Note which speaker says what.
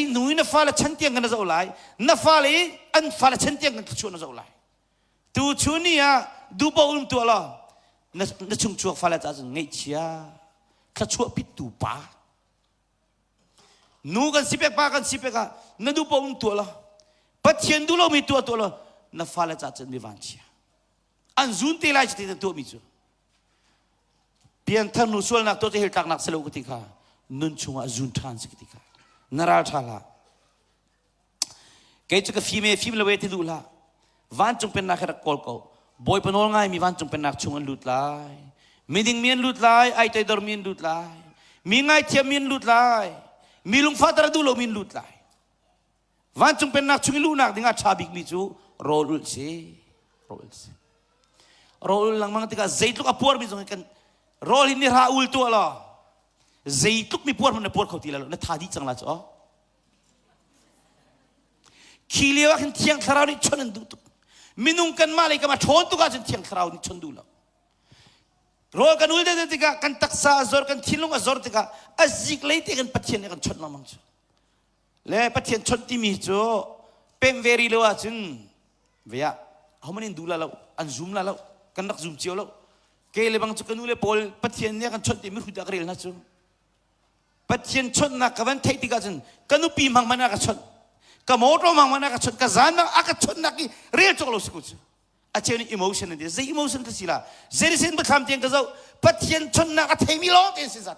Speaker 1: nu i na fale chan tiang kan na zoh lai na fale i an fale chan tiang kan thluachuah na zoh lai tu chu ni ah duhpaoh um tuah law na, na chungchuak fale ca cun ngeihchia thluachuah pittu pa nu kan si pek pa kan si pek ah na duhpaoh um tuah law pathian duh lomi tuah tuah law na fale ca cun mi vanchia an zun te lai ti na tuahmi cu pianthar nu sualnak tu cu hil tlaknak si lo ka ti kha nun chungah zun ṭhan si ka ti kha na ral ṭha la kei cu ka fim e fim lo e ti duh la vancung pennak he rak kawl ko bawipa nawl ngaimi vancung pennak chung an lut lai miding mi an lut lai ai toidor mi an lut lai mi ngaithiam mi an lut lai mi lungfa tara duh lo mi an lut lai Vancung pennak chung i luhnak dingah ṭha bikmi cu rawl ul si. Rawl ul si. Rawl ul lengmang tikah zeitluk a puarmi zong kan rawl hi ni hra ul tuah law zeitluk mi puar hmanh na puar kho ti lo na tha dih cang la cu aw. Khi lio ah khin thiang thlarau nih chawnh an duh tuk. Minung kanmah lei kamah ṭhawn tuk ahcun thiang thlarau nih chawnh duh lo. Rawl kan ul deuh tikah kan taksa a zor kan thinlung a zor tikah a zik lei te kan pathian nih a kan chawnh lengmang cu. le pathian chawnh timi cu pem ve ri lo ahcun vea ahoman in du la lo an zum la lo kan rak zum cio lo ke le bang cu ka nu le paul pathian nih kan chawnh timi hrut ah ka rel hna cu pathian chawnhnak ka van theih tikah cun ka nupi mang man a ka chawnh ka motor mang man a ka chawnh ka zan mang a ka chawnhnak i rel cok lo si ku cu a cheu nih emotion an ti zei emotion ka si la zei sen ba thlam tiang ka zoh pathian chawnhnak a theimi lawng te si zate